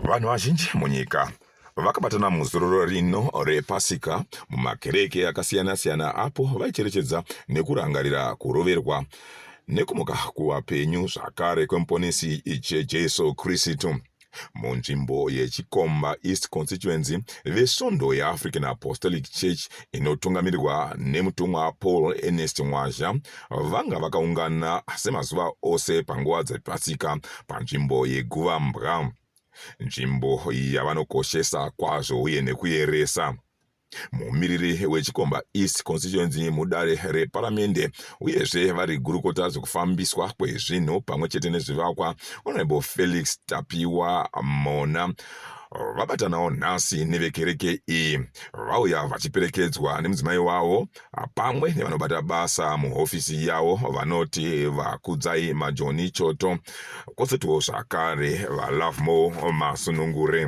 Vanhu vazhinji munyika vakabatana muzororo rino repasika mumakereke akasiyana-siyana apo vaicherechedza nekurangarira kuroverwa nekumuka kuvapenyu zvakare kwemuponesi Jesu Kristu. munzvimbo yechikomba east constituency vesvondo yeafrican apostolic church inotungamirirwa nemutumwa paul ernest mwazha vanga vakaungana semazuva ose panguva dzepasika panzvimbo yeguva mbwa nzvimbo yavanokoshesa kwazvo uye nekuyeresa mumiriri wechikomba east constituency mudare reparamende uyezve vari gurukota zvekufambiswa kwezvinhu pamwe chete nezvivakwa honorable felix tapiwa mona vabatanawo nhasi nevekereke iyi vauya vachiperekedzwa nemudzimai wavo pamwe nevanobata basa muhofisi yavo vanoti vakudzai majoni choto kwozotiwo zvakare valovemore masunungure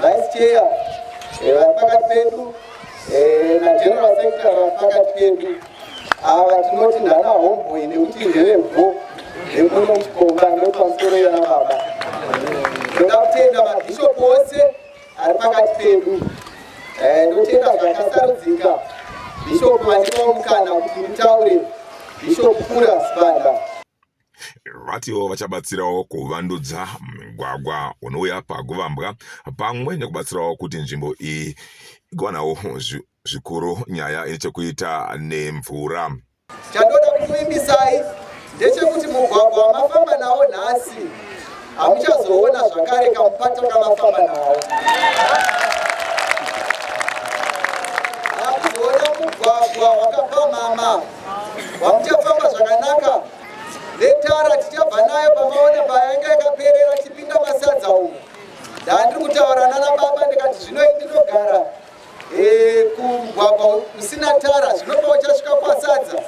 Vice Chair eh, vari pakati pedu eh, naGeneral Secretary vari pakati pedu ava tinoti ndana homeboy nekuti ndevembo vekuno muchikomba ndopamusoro yona baba ndoda kutenda mabhishopu ose ari pakati pedu eh, ndotenda zvakasarudzika bhishopu vandivawo mukana kuti mutaure bhishopu kura sibanda vatiwo vachabatsirawo kuvandudza migwagwa unouya paguvambwa pamwe nekubatsirawo kuti nzvimbo iyi igowanawo zvikuru nyaya ine chekuita nemvura chandoda kukuimbisai ndechekuti mugwagwa wamafamba nawo nhasi hamuchazoona zvakare kamupato kamafamba nawo hakuzoona mugwagwa wakapamhama Vamuchafamba zvakanaka netara tichabva nayo pamaona payanga yakaperera tipinda masadza umu. Ndandiri kutaura nana baba ndikati zvino ndinogara eh, kumugwagwa usina tara zvinopa uchasvika kwasadza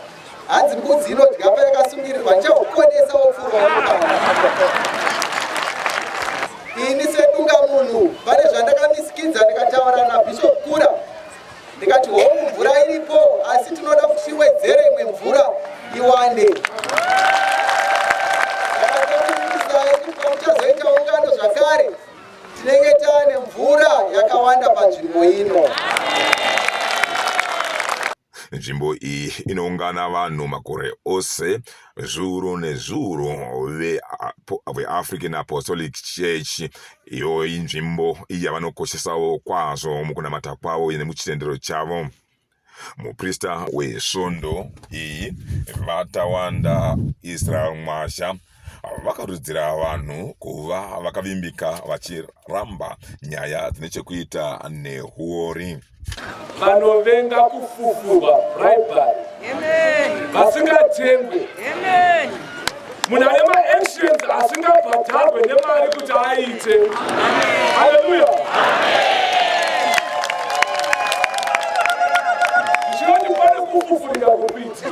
hanzi mbudzi inodya payakasungirirwa ndichakukonesa wopfurwa ini sedunga munhu pane zvandakamisikidza ndikataura nabishop kura ndikati hoo mvura iripo asi tinoda kuti tiwedzere imwe mvura iwande tazoita ungano zvakare tinenge taane mvura yakawanda panzvimbo ino nzvimbo iyi inoungana vanhu makore ose zviuru nezviuru veAfrican Apostolic Church iyo inzvimbo yavanokoshesawo kwazvo mukunamata kwavo nemuchitendero chavo muprista wesvondo iyi vatawanda israel mwasha vakarudzira vanhu kuva vakavimbika vachiramba nyaya dzine chekuita nehuori vanovenga kufufurwa bribery vasingatengwe munhu ane maactions asingabhadharwe nemari kuti aite haleluya ndinoti pane kufufurira kukuiti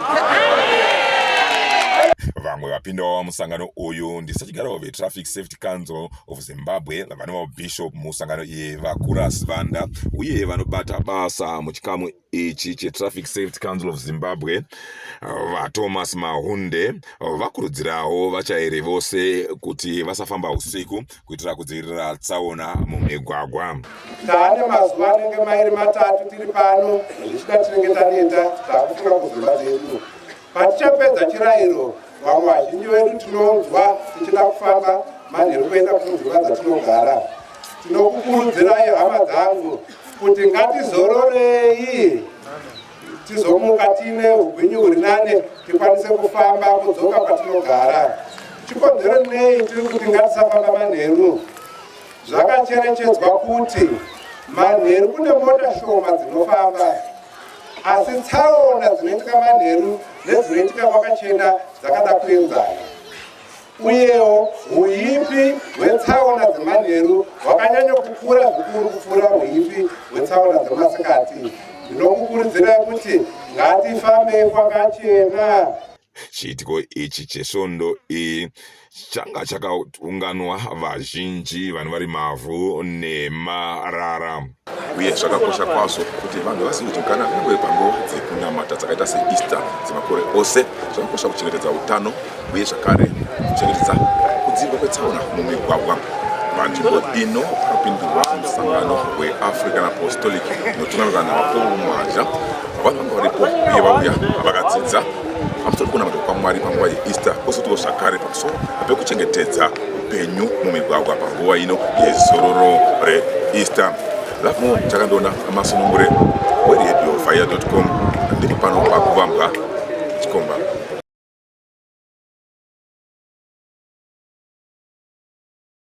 vamwe vapindawo musangano uyu ndisachigaro vetraffic safety council of Zimbabwe vanova bishop musangano iye vakura Sivanda uye vanobata basa muchikamu ichi cheTraffic Safety Council of Zimbabwe VaThomas Mahunde vakurudzirawo vachairi vose kuti vasafamba usiku kuitira kudzivirira tsaona mumigwagwa. Taane mazuva anenge mairi matatu tiri pano zvichida tinenge taneta takufunga kudzimba dzedu Patichapedza chirayiro, vamwe vazhinji vedu tinonzwa tichida kufamba manheru kuenda kunzvimbo dzatinogara. Tinokukurudzirai hama dzangu kuti ngatizororei tizomuka tiine ugwinyu huri nane tikwanise kufamba kudzoka kwatinogara. Chikonzero nei tiri kuti ngatisafamba manheru? Zvakacherechedzwa kuti manheru kune mota shoma dzinofamba asi tsaona dzinoitika manheru nedzinoitika kwakachena dzakada kuenzana uyewo uipi hwetsaona dzemanheru hwakanyanya kukura zvikuru kupfuura uipi hwetsaona dzemasikati ndinokukurudzirai kuti ngatifambei kwakachena Chiitiko ichi chesvondo iyi changa chakaunganwa vazhinji vanhu vari mavhu nemarara uye zvakakosha kwazvo kuti vanhu vazive kuti kana kunyangwe panguva dzekunamata dzakaita seeaster dzemakore ose zvakakosha kuchengetedza utano uye zvakare kuchengetedza kudzivirwa kwetsaona mumigwagwa panzvimbo ino pakapindurwa musangano weafrican apostolic notungamira navaporu mhanja vanhu vanga varipo uye vauya vakadzidza pamusoro pekunamata kwamwari panguva yeeaster kwozotiwo zvakare pamusoro pekuchengetedza upenyu mumigwagwa panguva ino yezororo reeaster lafmo takandoona amasunungure weredio fire com ndiri pano pakuvambwa chikomba